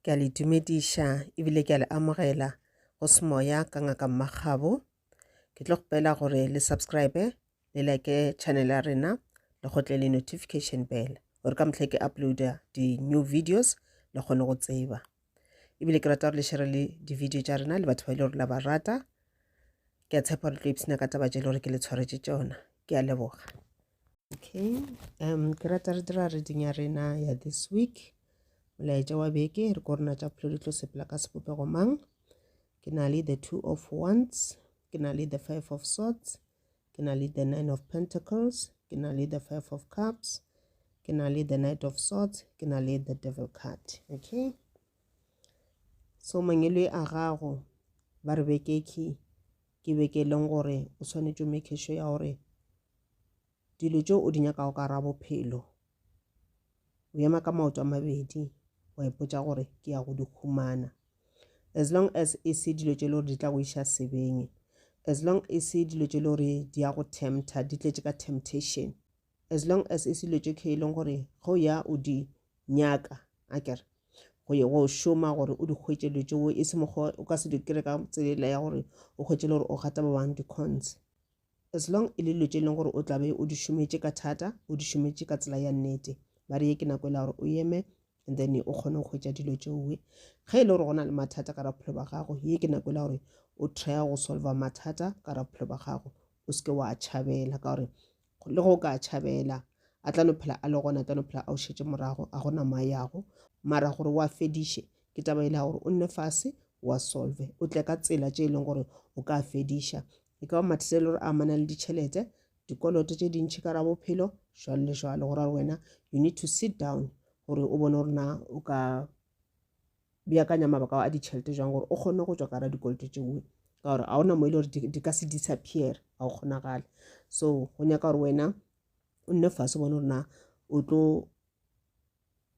Ke a le dumediša ebile ke a le amogela go semoya ka ngaka mmagabo ke tlo kgopela gore le subscribe le like channel ya rena le gotle le notification bell gore ka mohlha ke uploada di-new videos le kgone go tseba ebile ke rata gore le shere le di-video tša rena le batho ba e le gore la ba rata ke a tshepa gore tlo ipshina ka taba tše e le gore ke le tshwaretše tšona ke a leboga okay um ke rata re dira reading ya rena ya this week molaetša wa beke re ko rena tša phelo di tlo sepela ka sebopego mang ke na le the two of wands ke na le the five of swords ke na le the nine of pentacles ke na le the five of cups ke na le the knight of swords ke na le the devil card okay so mangelo a gago ba re bekeki ke be ke leng gore o swanetše o make sure ya gore dilo tše o di nyakago ka ra bophelo o ema ka maoto a mabedi wa ipotsa gore ke ya go di humana as long as e se dilo tše e le gore di tla go iša sebeng as long e se dilo tše e le gore di ya go tempta di tletše ka temptation as long as e selo tše khe e leng gore ge o ya o di nyaka a kere go ye go šoma gore o di hwetše dilo tšeo e se mokgwa o ka se di kry ka tsela ya gore o hwetše le gore o gata ba bang di-cons as long e le dilo tše e leng gore o tlabe o di šometše ka thata o di šometše ka tsela ya nnete ba re ye ke nako e la gore o eme and then o kgone go hwetša dilo tšeoe ge e le gore go na le mathata ka raphelo ba gago ye ke nako e la gore o try go solva mathata ka raphelo ba gago o seke wa tšhabela ka gore le go ka tšhabela a tla no phela a le gona a tla no phela a o šetše morago a gona mo a yago mara gore wa fediše ke taba e le ya gore o nne fase wa solve o tle ka tsela tše e leng gore o ka fediša e ka ba mathata e le gore a amana le ditšhelete dikoloto tše dintšhi ka ra bophelo jwalo le jwalo gore wena you need to sit down gore o bone gore na o ka beakanya mabaka ao a ditšhelete jang gore o kgone go tswa ka ra dikoloto tše nngwe ka gore ga ona mo e le gore di ka se disappear ga o kgonagale so go nyaka gore wena o nne fase bone gore na o tlo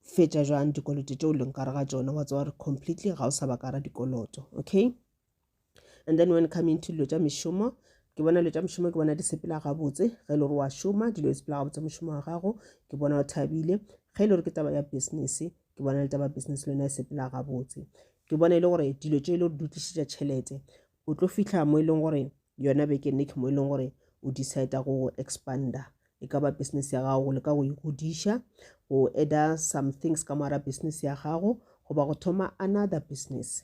fetša jwang dikoloto tše o leng kare ga tsona wa tsewa gore completely ga o sa ba kara dikoloto okay and then when coming to dilo tša mešomo ke bona dilo tša mešomo ke bona di sepela gabotse ge e le gore wa šoma dilo di sepela gabotse mošomo wa gago ke bona o thabile ge e le gore ke taba ya business ke bona le taba business le yona e sepela gabotse ke bona e le gore dilo tše e le gore di tlišitša tšhelete o tlo fitlha mo e leng gore yona beke neke mo e leng gore o decide go expanda e ka ba business ya gago le ka go e godiša go adder some things ka moara business ya gago goba go thoma another business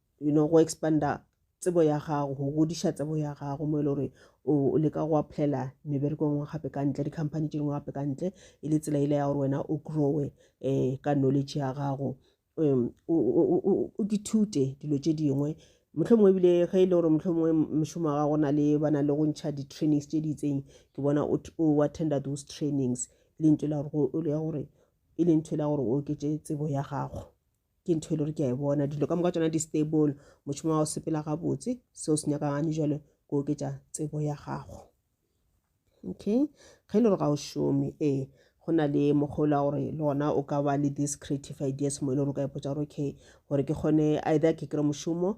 you know, go expanda tsebo ya gago go godiša tsebo ya gago mo e le gore o leka go applyela mebereko ngwe gape ka ntle di-company tše dingwe gape ka ntle e le tsela ile ya gore wena o growe um ka knowledge ya gago um o dithute dilo tše dingwe motlho mongwe ebile ge e le gore motlho mongwe mošomo wa gago na le ba na le go ntšha di-trainings tše di itseng ke bona o attenda those trainings e le ntho e le gore e le ntho e le gore o oketse tsebo ya gago ke ntho e le gore ke a e bona dilo ka moka tsona di-stable mošomo wa go sepela gabotse seo se nyakagane jalo go oketša tsebo ya gago okay ge e le gore ga o šome ee go na le mokgolo wa gore le gona o ka ba le this creative ideas mo e le gore o ka ipotsa gore okay gore ke kgone either ke kry mošomo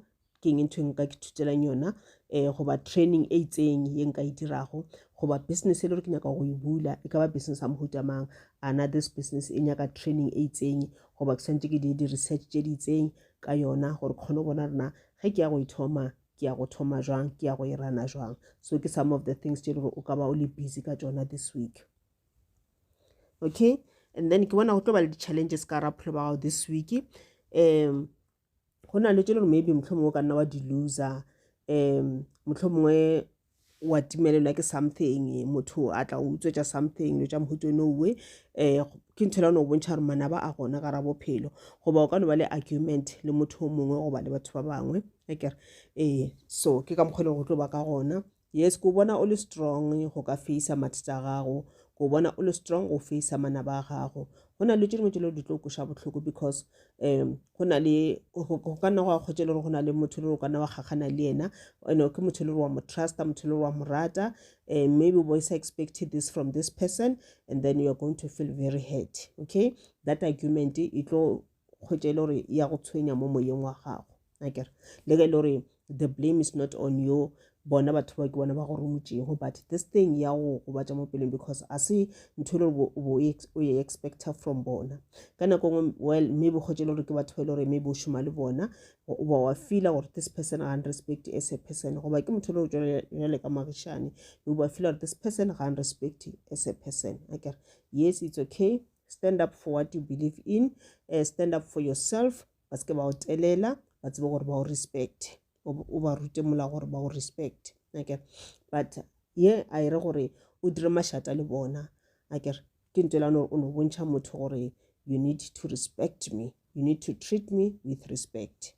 ke eng ntho e nka ke thutelang yona um goba training e itseng ye nka e dirago goba business e le gore ke nyaka go e bula e ka ba business ya mohuta mang ana this business e nyaka training e itseng goba ke tshwanetse ke dire di-research tse di itseng ka yona gore kgone go bona rena ge ke ya go e thoma ke ya go thoma jwang ke ya go e rana jwang so ke some of the things tse e le gore o ka ba o le busy ka tsona this week okay and then ke bona go tlo ba le di-challenges ka rapholo ba gago this week um go na le tše le gore maybe motlho mongwe o ka nna wa di-loser um motlho mongwe wa timelelwa ke something motho a tla o utswetša something lo tša mohuto no owe um ke ntho lano o bontšha gore manaba a gona gara bophelo goba o ka no ba le argument le motho o mongwe goba le batho ba bangwe akere ee so ke ka mokgwa e lego go tlo ba ka gona Yes, ke o bona o le strong go ka feisa mathata a gago. Ke o bona o le strong go feisa manaba a gago. Go na le tše dingwe tše le di tlo koša bohloko because um go na le go ka nna go a kgwetše le gore go na le motho le gore o ka nna wa kgakgana le yena ene ke motho le gore wa mo trusta motho le gore wa mo rata um maybe o boysa expected this from this person and then you are going to feel very hurt okay that argument e tlo kgwetša e le gore ya go tshwenya mo moyeng wa gago akere le ge e le gore the blame is not on you bona batho ba ke bona ba go romotšego but this thing ya go gobatša mo pelong because a se ntho e le gore o e expecta from bona ka nako ngwe well maybe kgotse e le gore ke batho ba e le gore maybe o šoma le bona o ba wa feela gore this person ga respect as a person goba ke motho e le gore jale ka magišane o ba feela gore this person ga respect as a person akere yes it's okay Stand up for what you believe in, uh, stand up for yourself, ba se ke ba o telela, ba tsebe gore ba o respect. O ba rute mola gore ba o respect. Okay. But ye a e re gore o dire mašata le bona. Akere ke ntho elane gore o no bontšha motho gore you need to respect me. You need to treat me with respect.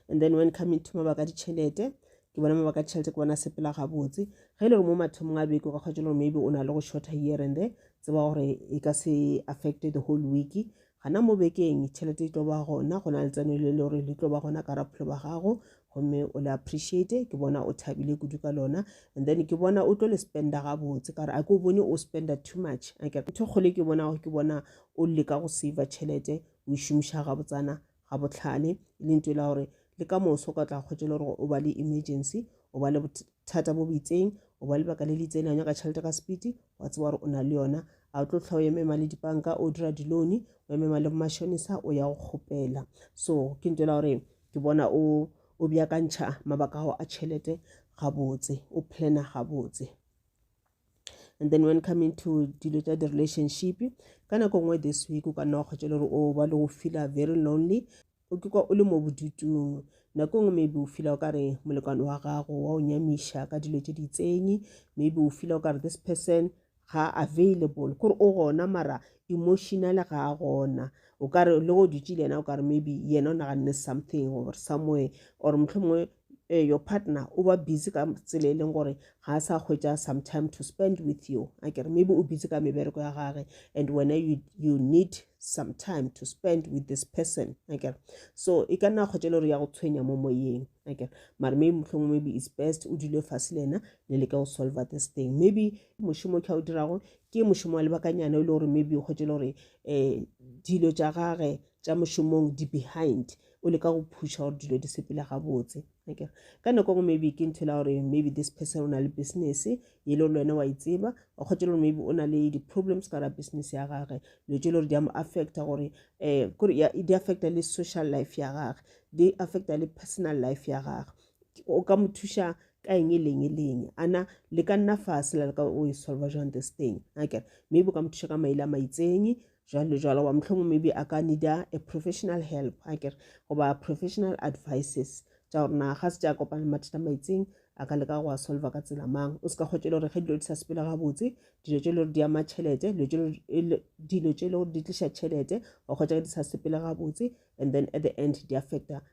and then when coming to mabaka a ditšhelete ke bona mabaka a ditšhelete ke bona sepela gabotse ge e le gore mo mathomong a beke o ka kgwetsa gore maybe o na le go shorter here and there tseba gore e ka se affected the whole week gana mo bekeng tšhelete e tlo ba gona go na le tseno le le gore le tlo ba gona ka rapholo ba gago gomme o le appreciate ke bona o thabile kudu ka lona and then ke bona o tlo le spenda gabotse ka gore a ke o bone o spenda too much ntho kgole ke bona ke bona o leka go save tšhelete o e šomiša gabotsana ga bohlale e leng tšo e la gore le ka moso ka tla kgwetšele gore o ba le emergency o ba le bothata bo bitseng o ba lebaka le le itseng la nyaka tšhelete ka sepiti wa tseba gore o na le yona a o tlo tlha o emema le dipanka o dira dilone o emema le mashonisa o ya go kgopela so ke nto la gore ke bona o o bjakantšha mabaka ao a tšhelete gabotse o plana gabotse and then when coming to dilo tša di-relationship ka nako nngwe this week o ka nna wa kgwetša le gore o ba le go feela very lonely o ke kwa o le mo bodutung nako nngwe maybe o fila o ka re molekwane wa gago wa o nyamiša ka dilo tše ditsenyi maybe o fila o ka re this person ga available kore o gona mara emotional ga a gona o ka re le go dutse le yena o ka re maybe yena o naganne something or somewhere or mohlomongwe uh, your partner o ba busy ka tsela e leng gore ga a sa hwetša some time to spend with you a kere maybe o busy ka mebereko ya gage and wena you, you need some time to spend with this person a kere so e ka nna kgwetša le gore ya go tshwenya mo moyeng a kere mare maybe mohlong maybe is best o dule fase le ena le leke go solver this thing maybe mošomo kha o dirago Ke mošomo wa lebakanyana e le gore maybe o kgwetše le gore um dilo tša gage tša mošomong di behind o leka go phusha gore dilo di sepela gabotse akere ka nako ngwe maybe ke ntho la gore maybe this person o na le business e le gore le wena wa e tseba o kgwetše le gore maybe o na le di-problems ka ra business ya gage dilo tše le gore di a mo affecta gore um di affecta le social life ya gage di affecta le personal life ya gage o ka mo thuša ka eng e leng e leng ana le ka nna fase la le ka o e solva jwang this thing akere maybe o ka mo thuša ka maile a maitseng jalo jalo wa mohlomong maybe a ka needa a professional help akere goba professional advices tša gore na ga se tša kopana mathata maitseng a ka leka go a solva ka tsela mang o se ka kgotse le gore ge dilo di sa sepela gabotse dilo tše le gore di ama tšhelete dilo tše le gore di tliša tšhelete wa kgotsa ge di sa sepela gabotse and then at the end di affecta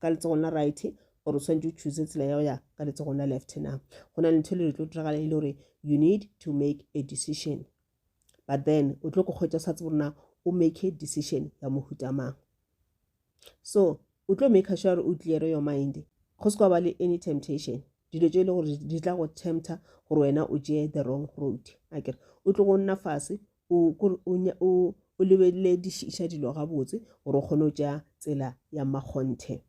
ka letsogong la right gore o tshwanetse o choose tsela ya go ya ka letsogong la left na go na le ntho e le tlo diragala e le gore you need to make a decision but then o tlo go kgwetsa o sa tsebo rona o make a decision ya mohuta mang so o tlo make sure gore o cleare your mind go se kwa ba le any temptation dilo tse e le gore di tla go tempter gore wena o tšee the wrong road akere o tlo go nna fase o kore o nya o o lebelele di šiša dilo ga botse gore o kgone go tša tsela ya makgonthe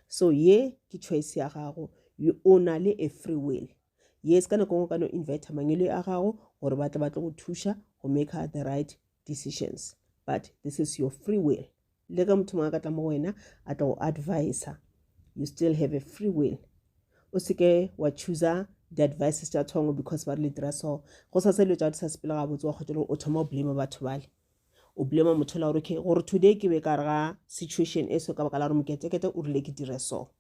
so ye ke choice ya gago o na le a free will ye se ka nako ngwe ka no invite mangelo a gago gore ba tle ba tle go thuša go make the right decisions but this is your free will le ge motho mongwe a ka tla mo wena a tla go advisa you still have a free will o seke wa chooser di-advices tša thongo because ba re le dira so go sa se dilo tša di sa sepele ga botse wa kgotsa gore o thoma o blame batho bale o blame motho la gore okay gore today ke be ka re ga situation e so ka baka la gore moketekete o rile ke dire so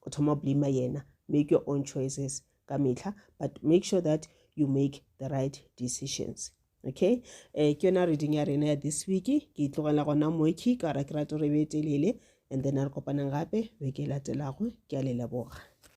o thoma o blame yena make your own choices ka mehla but make sure that you make the right decisions okay um ke yona reading ya rena ya this week ke itlogela gona moki ka ra ke rate gore e be e telele and then a re kopanang gape beke e latelago ke a le leboga